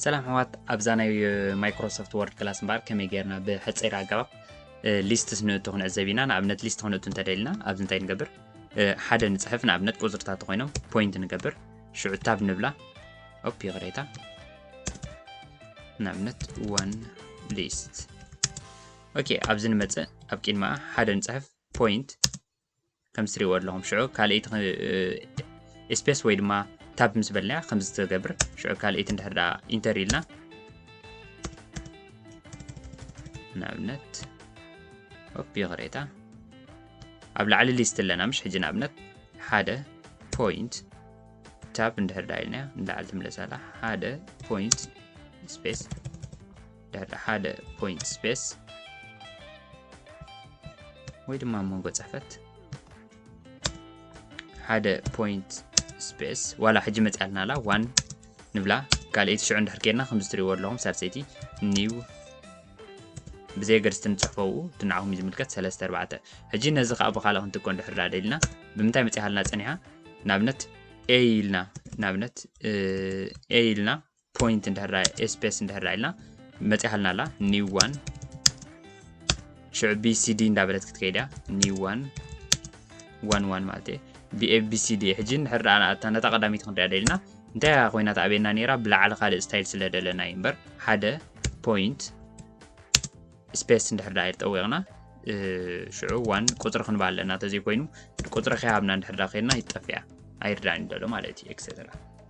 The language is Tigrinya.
ሰላም ሕዋት ኣብዛ ናይ ማይክሮሶፍት ወርድ ክላስ እምበኣር ከመይ ጌርና ብሕፀይር ኣገባብ ሊስትስ ንእቶ ክንዕዘብ ኢና ንኣብነት ሊስት ክንእቱ እንተደልና ኣብዚ እንታይ ንገብር ሓደ ንፅሕፍ ንኣብነት ቁፅርታት ኮይኖም ፖይንት ንገብር ሽዑ ታብ ንብላ ኦፕ ይቕሬታ ንኣብነት ዋን ሊስት ኦኬ ኣብዚ ንመፅእ ኣብ ቂድማኣ ሓደ ንፅሕፍ ፖይንት ከምዚ ትሪእዎ ኣለኹም ሽዑ ካልኣይቲ ስፔስ ወይ ድማ ታብ ምስ በልና ከምዚ ትገብር ሽዑ ካልኣይቲ እንድሕር ደኣ ኢንተር ኢልና ንኣብነት ኦፕ ይቕሬታ ኣብ ላዕሊ ሊስት ኣለና ምሽ ሕጂ ንኣብነት ሓደ ፖይንት ታብ እንድሕር ደኣ ኢልና ንላዕሊ ትምለሳላ ሓደ ፖይንት ስፔስ ድሕሪ ሓደ ፖይንት ስፔስ ወይ ድማ ኣብ መንጎ ፅሕፈት ሓደ ፖይንት ስፔስ ዋላ ሕጂ መፅኣልና ኣላ ዋን ንብላ ካልኣይቲ ሽዑ እንድሕር ከይድና ከምዚ ትሪእዎ ኣለኹም ሳልሰይቲ ኒው ብዘይ ገድስቲ ንፅሕፎ ኡ ድንዓኹም እዩ ዝምልከት ሰለስተ ኣርባዕተ ሕጂ ነዚ ከዓ ብካልእ ክንትኮ እንድሕር ዳደ ኢልና ብምንታይ መፅኢሃልና ፀኒሓ ንኣብነት ኤ ኢልና ንኣብነት ኤ ኢልና ፖይንት እንድሕር ኤስፔስ እንድሕር ኢልና መፂሓልና ኣላ ኒው ዋን ሽዑ ቢሲዲ እንዳበለት ክትከይድ እያ ኒው ዋን ዋን ዋን ማለት እየ ብኤቢሲዲ ሕጂ ንድሕር ኣታ ነታ ቀዳሚት ክንሪኣ ደልና እንታይ እያ ኮይና ተኣብየና ነይራ ብላዕሊ ካልእ ስታይል ስለ ደለና እዩ እምበር ሓደ ፖይንት ስፔስ እንድሕር ዳይር ጠዊቕና ሽዑ ዋን ቁፅሪ ክንባ ኣለና ተዘይኮይኑ ቁፅሪ ከይሃብና እንድሕር ዳ ከይድና ይጠፍያ ኣይርዳእን ደሎ ማለት እዩ ኤክሰትራ